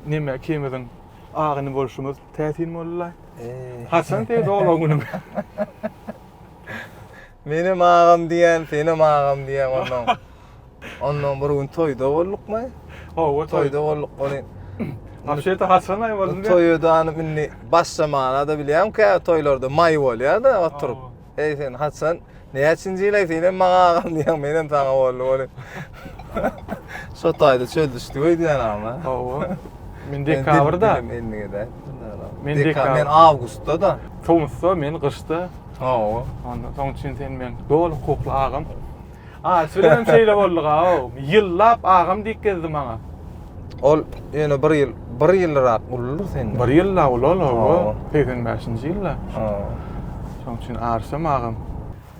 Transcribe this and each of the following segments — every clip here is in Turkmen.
Neme ikimiziň agyny bolşumyz täsin boldy-laý. Haçan seýdi oglan günüň? Menem agam diýen, senem agam diýen ondan. Ondan bir gün toýda boldukmy? Hawa, toýda bolduk. Ony Aşyta haçan aý boldy? Toýda indi başlamaga-da bilýämkä, toýlarda maý bolýar-da oturyp. Eý sen haçan näçinji ýyl eý senem maňa agam diýýäň menem saňa boldy bolup. Şo taýda çöl düşdi öýdýän agam. Hawa. Men dekabrda. Men dekabr. Men awgustda da. Tomusda men gyşda. Hawa. Ondan soň üçin sen men doly hukukly agam. Aýt bilenem şeýle bolduga-ow. Ýyllap agam diýip gezdi maňa. Ol ýöne bir ýyl, bir ýylrak uludyr senden. Bir ýylla uly ol, hawa. Hawa. Segsen bäşinji ýylda. Hawa. Şonuň üçin Arsem agam.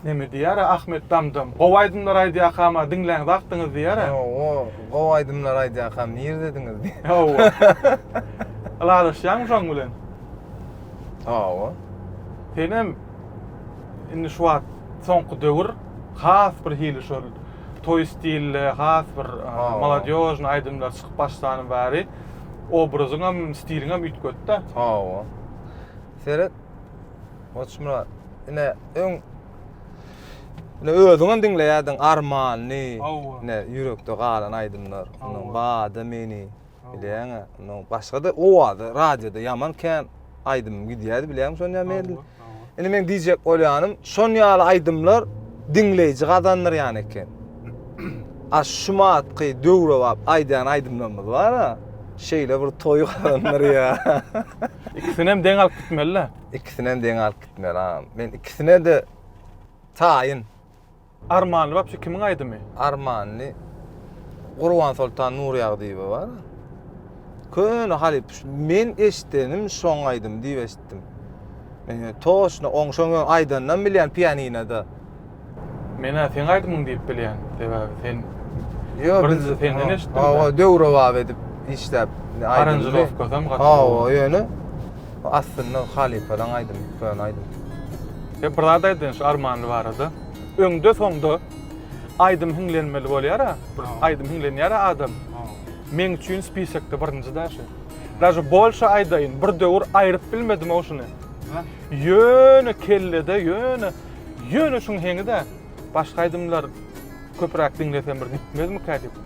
Näme diýýär-ä Ahmet Damdam? Gowy aýdymlar aýdýakam-a, diňlän wagtyňyz diýýär-ä. Hawa, gowy aýdymlar aýdýakam, nirdediňiz diýýär. Hawa. Ylalaşýaňmy şoň bilen? Hawa. Senem indi şu wagt soňky döwür Has bir hili şol toý stilli, has bir maladýožnyý aýdymlar çykyp başlany bäri obrazyňam, stiliňem üýtgedi-de. Hawa. Seret, Goçmyrat, ine, öň ine özüňem diňleýärdiň Armany, ine ýürekde galan aýdymlar, Bada meni, Bilýäňä, no başga-da owazy radioda ýaman kän aýdym gidýärdi, bilýäňmi şony ýa men? Indi men diýjek bolýanym, şon ýaly aýdymlar diňleýji gazandyrýan eken. A şu matky döwrebap aýdýan aýdymlarymyz bar-a, şeýle bir toýy gazandyrýar. Ikisinem deň alyp gitmeli-dä. Ikisinem deň alyp gitmeli, agam. Men ikisine-de taýyn. Armanly wapşe kimiň aýdymy? Armanly Gurbansoltan Nurýagdyýewa bar. Köne halyp men eşdenim şoň aýdym diýip eşitdim. Men ýöne toşna oň şoň aýdanynam bilýän pianinada. Menä seň aýdymyň diýip bilýän. Sebäbi sen Ýok biz senden eşitdim. Hawa döwrebap edip işläp aýdymda. Aranjirovkasam gaty. Hawa ýöne aslynda halypalaň aýdymy köne aýdym. Ýa bir zat aýdaýyn şu Armanly barada. Öňde soňda aýdym hiňlenmeli bolýara, bir aýdym hiňlenýara adam. Meň üçin spisokda birinji daşy. Daşy bolşa aýdaýyn, bir döwür aýryp bilmedim o şuny. Ýöne kellede ýöne ýöne şuň heňi-de başga aýdymlar köpräk diňlesem bir gitmezmikä diýip.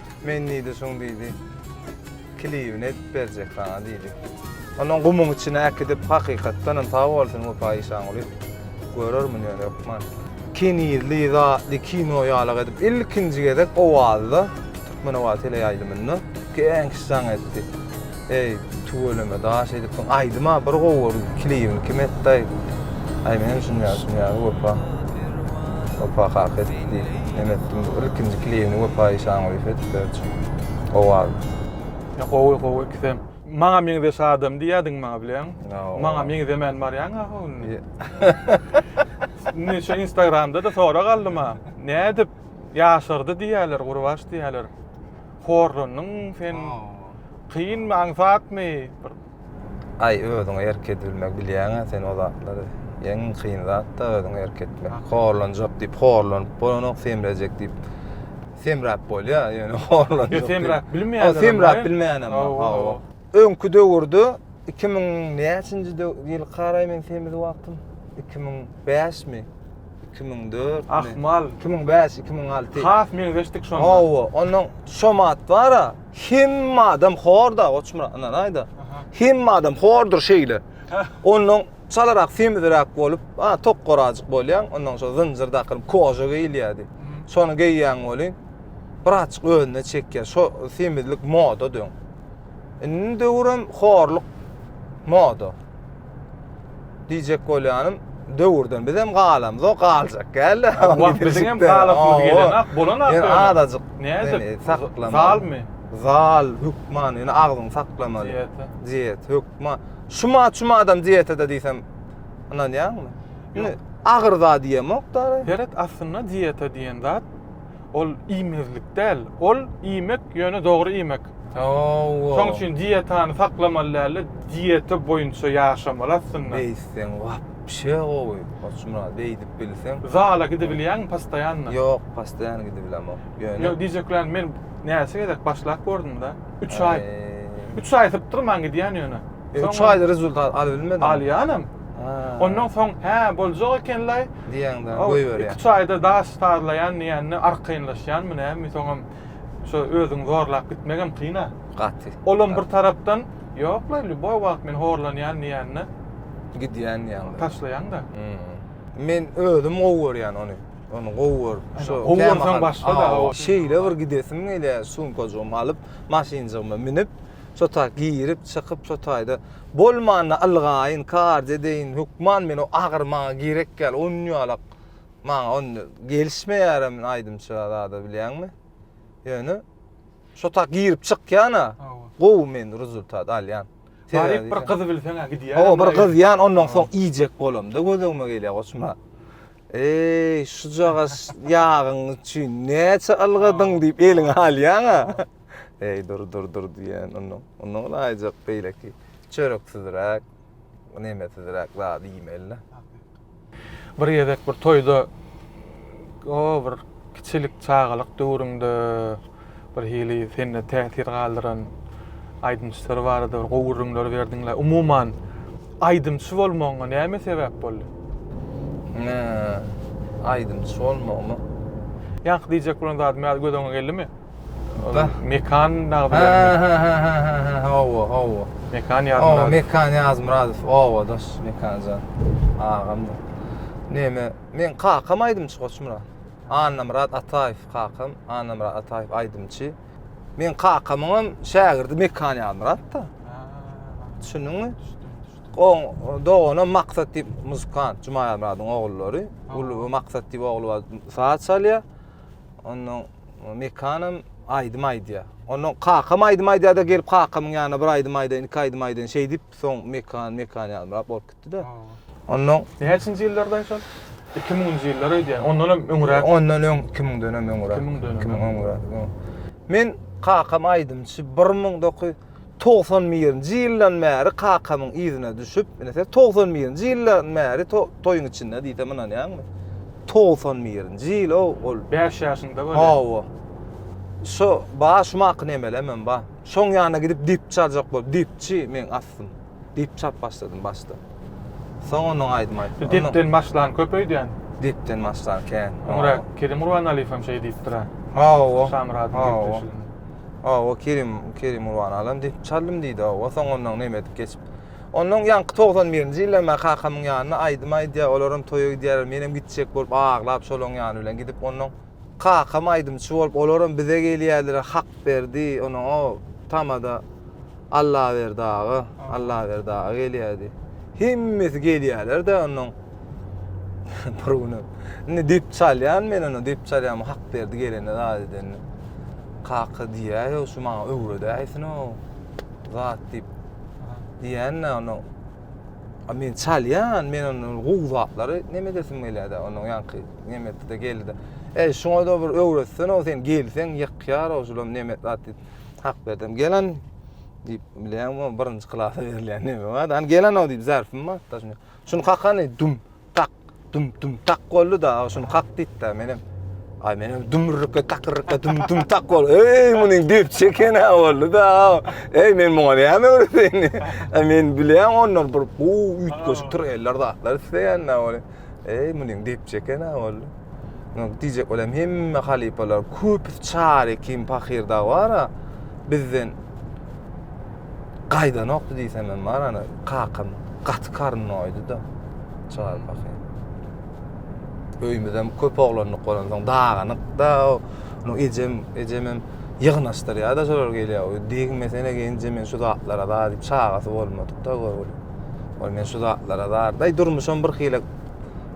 Men diýdi, şuň diýdi, kilibini edip berjek saňa diýdi. Onuň gumuň içine äkidip, hakykatdan hem sag bolsun Wepa Işanguly, görermin ýöne hökman. Kenizli, zatly kino ýalyk edip, ilkinji gezek Owazda, Türkmenoba teleýaýlymynda geň şaň etdi. Eý tüweleme daş edipsiň aýdyma bir gowy bor klibini kim etdaý aý menem şuny ýaly şuny ýaly wepa wepa kaka etdi men etdim bu ilkinji klibini wepa işangulyýew etdiler üçin gowy adam. Gowy gowy ikisem. Maňa meňzeş adam diýýädiň maňa bileň. Maňa meňzemän barýaň aha ol. Indi şu instagramda-da sorag aldym-a. Nädip ýaşardy diýýäler gurbaş diýýäler. horlandyň sen kynmy aňsatmy bir Aý özüňe erk edibilmegi bilýäňä sen o zatlary. Iň kyn zatda özüňe erk etmek. Horlanjak diýip horlanyp bolanok, semrejek diýip semräp bolýar, ýöne horlanjak. Ýa semräp bilmeýänler. Semräp bilmeýänem bar. Hawa. Öňki döwürde 2000 näçinji ýyl garaý men semiz wagtym 2005 mi? Iki müň dört müň. Ahmal. Iki müň bäş, iki müň alty. Has meňzeşdik şonda. Hawa, ondan Şomat bar-a. Hemme adam hor-da, Goçmyrat, ynanaý aýda. Hemme adam hordur şeýle. Ondan çalarak, semizräk bolup, a, tok gorajyk bolýaň, ondan şo zynjyr dakylyp, koža geýilýärdi. Şony geýýäň welin, birazçyk özüne çekýär. Şo semizlik moda dön. Indini döwürem horluk moda. Diýjek bolýanym, döwürden bizem galamyzok, galjak gäl-de. Wah, biziňem galasymyz gelenok, bolanok ýöne. Ýöne azajyk nädip saklamaly. Zalmy? Zal, hökman, ýöne agzyňy saklamaly. Diýete. Diýet, hökman. Şuma, şuma adam diýete-de diýsem, ynanýaňmy? Ýöne agyr zat iýemok-da. Seret, aslynda diýete diýen zat, Ol iýmezlik däl. Ol iýmek, ýöne dogry iýmek. Hawa. Şoň üçin dietany saklamaly dälde, dieta boýunça ýaşamaly aslynda. Beýtseň wapşe gowy Goçmyrat, beýdip bilseň. Zala gidibilýäňmi postoýanno? Ýok, postoýan gidibilemok. Ýöne. Ýok, diýjeklänim men näçe gezek başlap gördüm-de, üç aý. Üç aý sypdyrman gidýän ýöne. Üç aýda rezultat alybilmediňmi? Alýanam. Ondan soň, hä, boljak eken-laý. Diýende, goýberýär. Iki-üç aýda daş sazlaýan diýende, arkaýynlaşýanmy, nämi, soňam şo özüňi zorlap gitmegem kyn-a. Gaty. Olam bir tarapdan, ýok-laý, lýuboý wagt men horlanýan diýende. Gidýän diýende. Taşlaýaň-da. Men özüm gowy görýän ony. Ony gowy görüp, şo kämahal. Gowy görseň başga-da. Şeýle bir gidesim gelýär, sumkajygymy alyp, maşynjygyma münüp. Şo taý girip, çykyp, şo taýda bolmanda ylgaýyn, karz edeýin, hökman men o agyr maňa gerek däl, onýalak maňa onda gelişmeýärem aýdymça zada bilýäňmi? Ýöne şo taý girip çykýan-a, gowy men rezultat alýan. Baryp bir gyzy bilseň-ä gidýän. Hawa, bir gyz ýan, ondan soň iýjek bolamda göz öňüme gelýär, goçma. Eý, şujagaz ýagyň üçin näçe ylgadyň diýip eliňe alýan-a. Eý, dur, dur, dur diýen ondan. Ondan ulaýjak beýleki çöreksizräk, nemesizräk zat iýmeli-de. Bir gezek bir toýda, o bir kiçilik çagalyk döwrüňde bir hili sende täsir galdyran aýdymçylar barada bir gowy gürrüňler berdiň-le. Umuman, aýdymçy bolmagyňa näme sebäp boldy? Aýdymçy bolmagyma? Ýaňky diýjek bolan zadym ýaly göz öňüňe geldimi? Mekan nagdy bermek. Ha ha ha ha ha hawa hawa. Mekan ýazmyradow. Hawa Mekan ýazmyradow. Hawa daş Mekanjan. Agam. Näme? Men kakam aýdymçy Goçmyrat. Annamyrat Ataýew kakam. Annamyrat Ataýew aýdymçy. Men kakamyň hem şägirdi Mekan ýazmyratda. Düşündiňmi? Oň dogany Maksat diýip muzykant Jumaýazmyradyň ogullary. Uly Maksat diýip ogly bar. Saç alýar. Ondan Mekanam aýdym aýdýa. Ondan kakam aýdym aýdýada gelip kakamyň ýanyna bir aýdym aýdaýyn, iki aýdym aýdaýyn şeýdip soň Mekan, Mekan ýalymrak bolup gitdi-de. Ondan Näçinji ýyllardan şol? 2000-nji ýyllar öýdýän. Ondan hem öňräk. Ondan öň 2000-den hem öňräk. 2000-den hem öňräk. Men kakam aýdymçy 1900 Togsan birinji ýyldan bäri kakamyň yzyna düşüp, ine sen togsan birinji ýyldan bäri toýuň içinde diýsem ynanýaňmy? Togsan birinji ýyl-ow ol. Bäş ýaşyňda bolýar. Hawa. Şo, ba, şumaky nemelem hem ba. Şoň ýanyna gidip depçi aljak bolup, depçi meň astym. Dip çap başladym başda. Soň onuň aýdym aýtdym. Dipden başlan köp öýdýän. Dipden başlan kän. Öňra Kerim Gurbanaliýew hem şeý diýipdir-ä. Hawa. Şamyradyň depdeşliginde. Hawa, Kerim, Kerim Gurbanaliý hem dip çaldym diýdi, hawa. Soň ondan näme edip geçip. Ondan ýaňky togsan birinji ýylda men kakamyň ýanyna aýdym aýdýar, olar hem toýa gidýärler, men hem gitjek bolup aglap şolaryň ýany bilen gidip ondan. Kakam aýdymçy bolup olaram bize gelýädiler Hakberdi onam o tamada Allaberdi aga Allaberdi aga gelýädi. Hemmesi gelýälerde ondan bir günem. Indi dip çalýan men onu dip çalýan Hakberdi gelende zat edende. Kaka diýýär şu maňa öwredäýsin o zat diýip. Diýende onam A men çalýan, men ony gowzaplary neme edesim gelýär-de, onuň ýaňky nemesi-de geldi-de. E, şuňa-da bir öwretsene, o sen gelseň ýykýar, o şulam neme zat diýip, hak berdim. Gelen diýip, bilýäňmi, birinji klasa berilýän neme bar-da, hany gelen-ow diýip, zärfim bar, daşynda. Şuny kakany, düm, tak dum dum tak boldy da aw şuny kak diýip da menem Ay menem dumrukka takyrka dum dum tak bol. Ey muny dip çeken ha oldu da. Ey men muňa näme öwreteyini. Ay men bilýän ondan bir bu üýtgeşik tur eller zatlar isleýän da ol. Ey muny dip çeken ha oldu. Ýok, diýjek bolýan, hemme halypalar, köpüsi çar ekin pahyr dagy bar-a, bizden gaýdanokdy diýsem hem bar, ana, kakam gaty karyn doýdy-da, çar pahyr. Öýümizem köp oglanlyk bolan soň daganyk-da, onuň ejem, ejem hem ýygnaşdyrýar-da şolar gelýär. Oý, degmesene genje men şu zatlara-da diýip, çagasy bolmadyk-da görgüli. Oý, men şu zatlara-da, aý, durmuşam birhili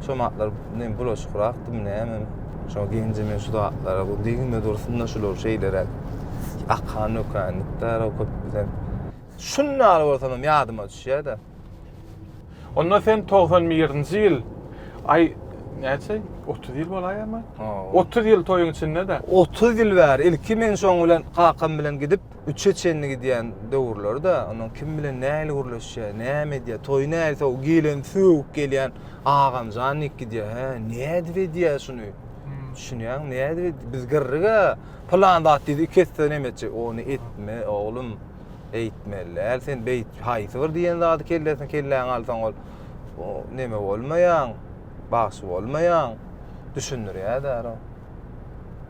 Şo matlar ne bulaşykrakdy mı näme mi? Şo genje men şu zatlara bu degme dursun-da şular şeýleräk. Akan dökän dikdara köp bizem. Şunda ýaly bolsam ýadyma düşýär-de. Onda sen togsan birinji ýyl, aý, näçe, otuz ýyl bolaýama? Otuz ýyl toýuň içinde-de. Otuz ýyl bäri ilki men şoň bilen kakam bilen gidip, Üçe çenli gidýän döwürleri-de, onuň kim bilen nähili gürleşýär, näme edýär, toýy nähili sowuk, geleni sögüp gelýän agamjan diýip gidýär. Hä, nädip edýär şuny? Düşünýäňmi, nädip edýär? Biz gyrryk-a, pylan zat diýdi, iki esse näme etjek? Ony etme, oglum, eýtmeli däl, sen beýt, haýsy bir diýen zady kellesine kelläňe alsaň ol, o, neme bolmaýaň, bagşy bolmaýaň, düşündirýär-dä, ro.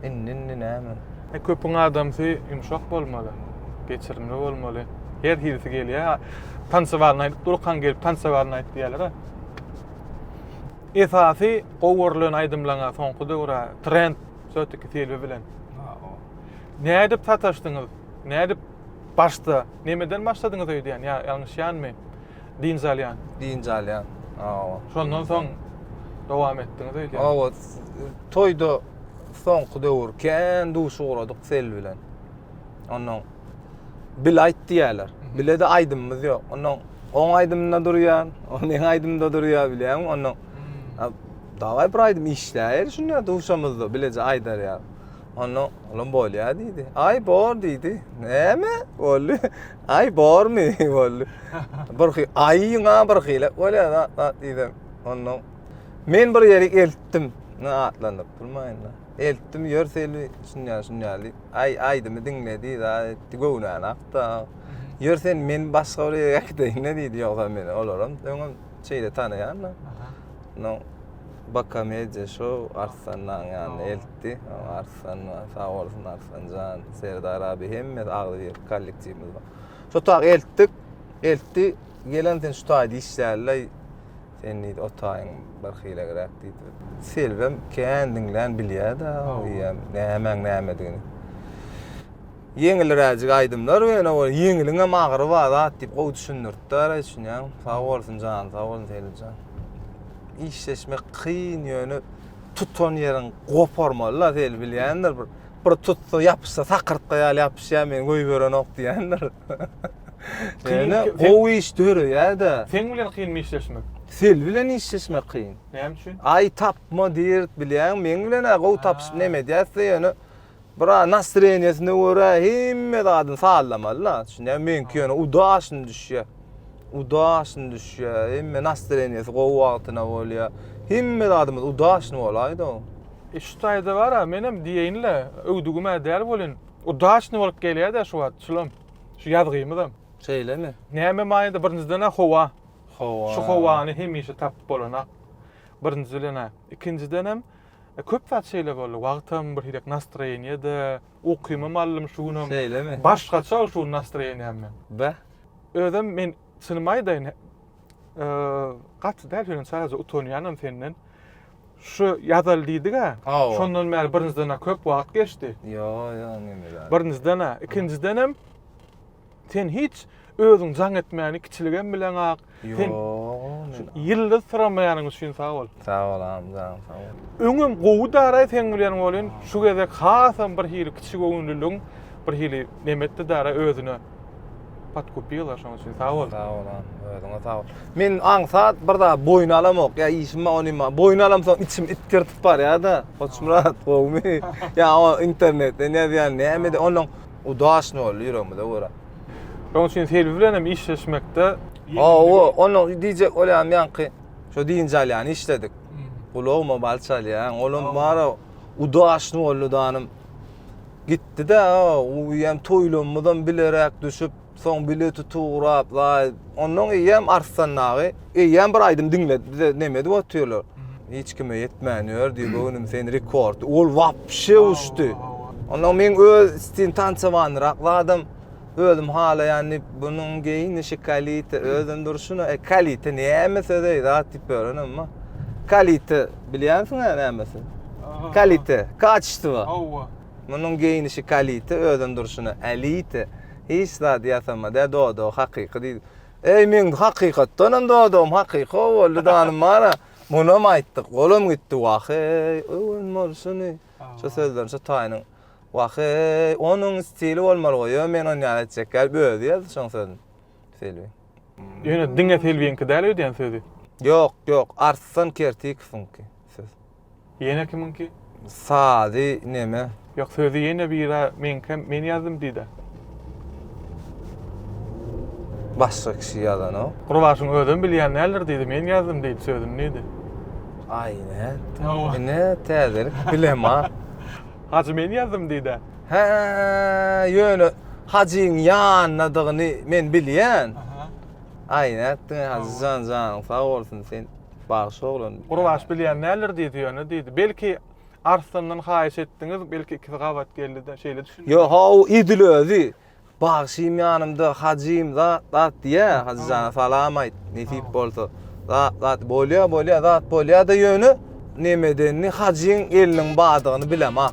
Indi indi näme? E, köpüň adamsy ýumşak bolmaly, geçirimli bolmaly. Her hilisi gelýär. Tansowalyny aýdyp durkaň gelip tansowalyny aýt diýýärler. Esasy gowy görlen aýdymlaňa soňky döwra trend sötüki Silvi bilen. Nädip sataşdyňyz? Nädip başda? Nämeden başladyňyz öýdýän? Ýa ýalňyşýanmy? dynç alýan. Dynç alýan. Hawa. Şondan soň dowam etdiňiz öýdýän. Hawa, toýda soňky döwür kän duşy ugradyk Sel bilen. Ondan bil aýt diýýärler. Bile de aýdymymyz ýok. Ondan oň aýdymynda durýan, o meň aýdymda durýar bilýäňmi? Ondan hmm. daway bir aýdym işläýeli şunda duşamyzda bileje aýdar ýa. Ondan olam bolýar diýdi. Aý bor diýdi. Näme? Boldy. Aý bormy boldy. Bir hy aýyňa bir hile bolýar zat zat diýdim. Ondan men bir ýeri eltdim. Ne atlandyp durmaýyn da. Eltdim ýör seli şunýa şunýa diýip. Aý aýdymy diňledi za etdi göwnäni akda. Ýör sen men başga bir ýere äkideýin ne diýdi ýogsa meni olaram öňem şeýle tanaýan da. No Bakamediýa şou Arslanlaň ýanyna eltdi. Ars Arslanma, sag bolsun Arslanjan, Serdar abi hemmesi agzy bir kollektiwimiz bar. Şu tag eltdik, eltdi. Gelen sen şu taýda işlärler. Sen diýdi otaýyň bir hilegräk diýdi. Selbem kän diňlän bilýär-de, eýýäm nämäň nämedigini. Ýeňilräjik aýdymlar ýöne ol ýeňiliň hem agyry bar zat diýip gowy düşündiripdir, düşünýäňmi? Sag bolsun jany sag bolsun Selimjan. Işleşmek kyn ýöne tutan ýerin goparmaly la Zeli bilýändir bir bir tutsa ýapyşsa sakyrtga ýaly ýapyşýar meni goýberenok diýendir. Ýöne gowy iş döreýärde. Seň bilen kynmy işleşmek? Sel bilen işleşmek kyn. Näme üçin? Aý tapma diýerik bilýäňmi meň bilen-ä gowy tapyşyp neme edýäs-de ýöne Biraz nasreniýesine görä hemme zadyny sazlamaly da. Düşünýäňmi? Meňki ýöne udaşyny düşýär. Udaşyny düşýär. Hemme nasreniýesi gowy wagtyna bolýar. Hemme zadymyz udaşyny bolaýda. E şu taýda bar-a, menem diýeýin-le, öwdügim-ä däl welin, udaşyny bolup gelýär-dä şu wagt şulam, şu ýazgymyzam. Şeýlemi? Näme manyda? Birinjiden-ä howa. Howa. Şu howany hemişe tapyp bolanok. Birinji bilen-ä. Ikinjidenem. Köp zat şeýle boldy. Wagtam birhilek nastroýeniýede, ukymam aldym şu günam. Şeýlemi? Başgaça şu gün nastroýeniýam men. Be. Özem men çynymy aýdaýyn, gaty däl şeýle sadajy utanýanam senden. Şu ýazaly diýdik-ä. Şondan bäri birinjiden-ä köp wagt geçdi. Ýo, ýo, neme zat. Birinjiden-ä, ikinjidenem Sen hiç özüň jaň etmäni kiçiligem bileňak. Sen ýyldyz syramaýanyň üçin sag bol. Sag bol agam, jaň sag bol. Öňem gowy daraý seň bilen bolýan. Şu gezek hasam bir hili kiçi göwünliligiň bir hili nemetdi dara özüne. Podkupila şoň üçin sag bol. Sag bol agam, özüňe sag bol. Men aňsat bir zat boýun alamok. Ýa işim bar, onym bar. Boýun alamsoň içim itgirtip barýar-da. Goçmyrat, gowumy? Ýa o internetden ýazýan, näme de onnoň Udaşny boldy ýüregimize görä. Şoň üçin Selbi bilen hem işleşmekde Hawa, onuň diýjek bolýan ýaňky şo dynç alýany işledik. Gulagyma bal çalýan, olam bar-a udaşny boldy danym. Gitdi-de, o uýam toýlanymyzam bileräk düşüp. Soň bileti tugrap laý. Ondan eýýäm Arslan dagy eýýäm bir aýdym diňle bize neme edip otyrlar. Hiç kime ýetmän ýör diýip göwnüm sen rekord. Ol wapşe uçdy. Ondan men öz istin tançawanrak zadam özüm halaýan diýip bunuň geýinişi kalite özem durşuna e kalite näme söz eý zat diýip ýören emma kalite bilýänsiň-ä nämesi? Kalite, kaçestvo. Hawa. Munuň geýnişi kalite özem durşuna elite hiç zat ýasamada dodagy hakyky diýdi. Eý meň hakykatdanam dodagym hakyky boldy danym bara munam aýtdyk olam gitdi waheý öwen bolşuny şu sözlerini şu taýynyň waheý onuň stili bolmaly goý ýöne men ony ýaly etjek ýaly özi ýazdy şoň sözüni Selbi. Ýöne diňe Selbiňki däl öýdýän sözi. Ýok ýok Arslan Kertikowyňky söz. Ýene kimiňki? Sazy neme? Ýok sözi ýene bira meňkem men ýazdym diýdä. Başga kişi ýazanok. Gurbaşyň özem bilýän däldir diýdi men ýazdym diýdi sözüni diýdi. Aý näet. Ine täzelik bilema. Hajy men ýazdym diýdä. Hä ýöne Hajyň ýanyndadygyny men bilýän. Aý nätdiň Hajyjan janyň sag bolsun sen. Bagşy oglan. Gurbaş bilýän däldir diýdi ýöne diýdi. Belki Arslandan haýyş etdiňiz, belki ikisi gabat geldi-de şeýle düşündi. Ýo, haw, edil özi. Bagşym ýanymda, Hajym zat, zat diýýä. Hajy jana salam aýt, nesip bolsa. Zat, zat bolýa, bolýa, zat bolýa-da ýöne nemedenini Hajyň eliniň badygyny bilemok.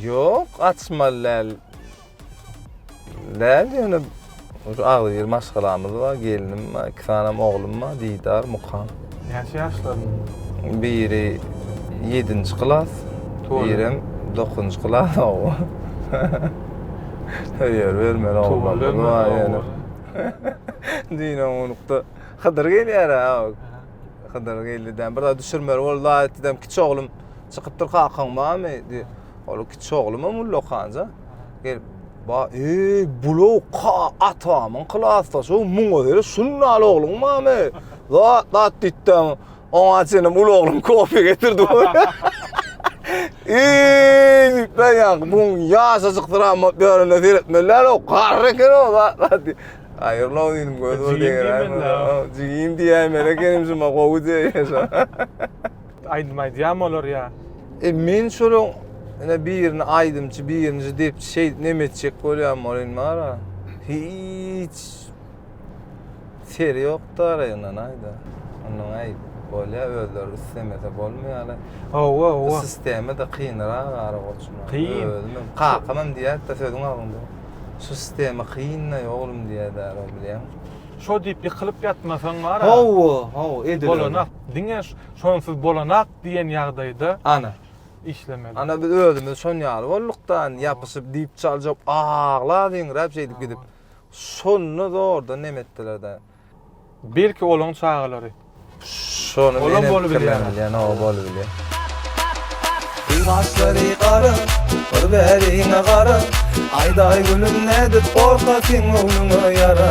Ýok açmaly däl. Däl ýöne şu agzy bir maşgalamyz bar, gelnim bar, iki sanem oglum bar, Didar, Mukan. Näçe ýaşlaryň? Biri ýedinji klas, birem dokuzynjy klas oba. Höýer bermeli oglanlarymyz bar ýöne. Düýn onlukda Hydyr gelýär-ä. Hydyr geldi däm. Bir zat düşürmeli boldy adatçydam kiçi oglum Çykypdyr kakaň barmy? diýip. Ol kiçi oglumam ullakanca gelip, Ba, eý, bul-ow ka, atamyň klasdaşy, muňa göre şundaly ogluň barmy? Zat, zat diýipdem, oňa çenem uly oglum kofe getirdi. Eý, diýipler ýaňky, muň ýaşajykdyr ama börüne seretmeli däl-ow, garry eken-ow, zat, zat diýip. Haýyrly-ow diýdim, gözi bir degir-ä. Jigim diýäýmeli ekenim şuňa, gowy diýäýmeli şo. Aýdym aýdýarmy olar ýa? E men şolaň ine birini aýdymçy, birinji depçi şeýdip neme etjek bolýarym ol indi mara. Hiç seri ýokda araýyndan aýda. Ondan aýt. Bolýar özleri islemese bolmaýar. Hawa, hawa. Sistema da kynrak ara goçma. Kyn. Özüm kakam hem diýýärdi sözüň agzynda. Şu sistema kyn-da oglum diýýärdi ara bilýän. Şo diýip ýykylyp ýatmasaň mara. Hawa, hawa ediler. Bolana. Diňe şonsuz bolanak diýen ýagdaýda Ana. işlemeli. Ana biz özümiz şon ýaly bolduk-da, indi ýapyşyp diýip çaljak, aglap, hiňräp şeýdip gidip. Şonda zordan nem etdiler-de. Belki olaň çagalary. Şony men hem pikirlenip bilýän, hawa bolubilýär. Gül gaşlary gara, bir bäriňe gara, Aýdaý gülüm nädip gorkasyň göwnüňe ýara.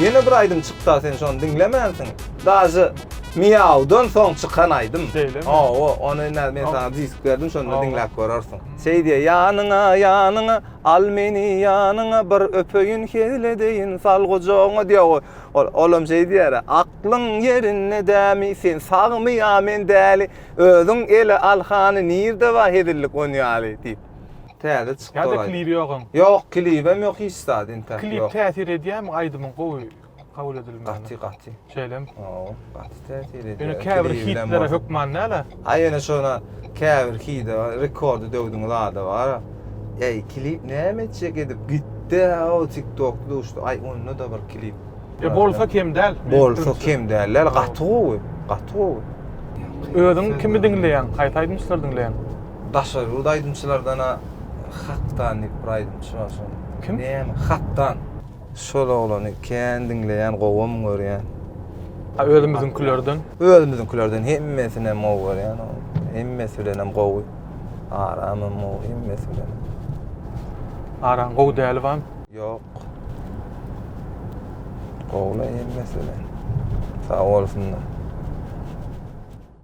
Ýene bir aýdym çyksa sen şony diňlemänsiň. Daže Miawdan soň çykan aýdym. Şeýlemi? Hawa, ony näme men saňa disk berdim şonda diňläp görersiň. Şeý diýýär, Ýanyňa, ýanyňa, al meni ýanyňa, bir öpeýin, hezil edeýin, sal gujagyňa diýýär goý. Ol, olam şeý diýýär, Aklyň ýerinde dämi, sen sagmy ýa men däli, özüň ele al hany nirde bar hezillik on ýaly diýip. Täze çykdy ol aýdym. Ýa-da klip ýok aň. Ýok klibem ýok hiç zat intäk ýok. Klip täsir edýärmi aýdymyň gowy kabul edilmegine? Gaty gaty. Şeýlemi? Hawa gaty täsir edýär. Ýöne käbir hitlere hökman däl-ä. Ha ýöne şona käbir hide rekordy döwdüň zada bar. Eý klip näme etjek edip gitdi-ä o tiktokly uçdy. Aý onda-da bir klip. E bolsa kem däl. Bolsa kem däl däl gaty gowy. Gaty gowy. Özüň kimi diňleýäň? Haýsy aýdymçylary diňleýäň? Daşary ýurt aýdymçylardan-a Hakdan diýip bir aýdymçy bar şol. Kim? Näme? Hakdan. Şol oglany kän diňleýän, gowam görýän. A özümiziňkilerden? Özümiziňkilerden hemmesinem gowy görýän ol. Hemmesi bilenem gowy. Aramam gowy, hemmesi bilenem. Aram gowy däli bamy? Ýok. Gowulaý hemmesi bilen. Sag bolsunlar.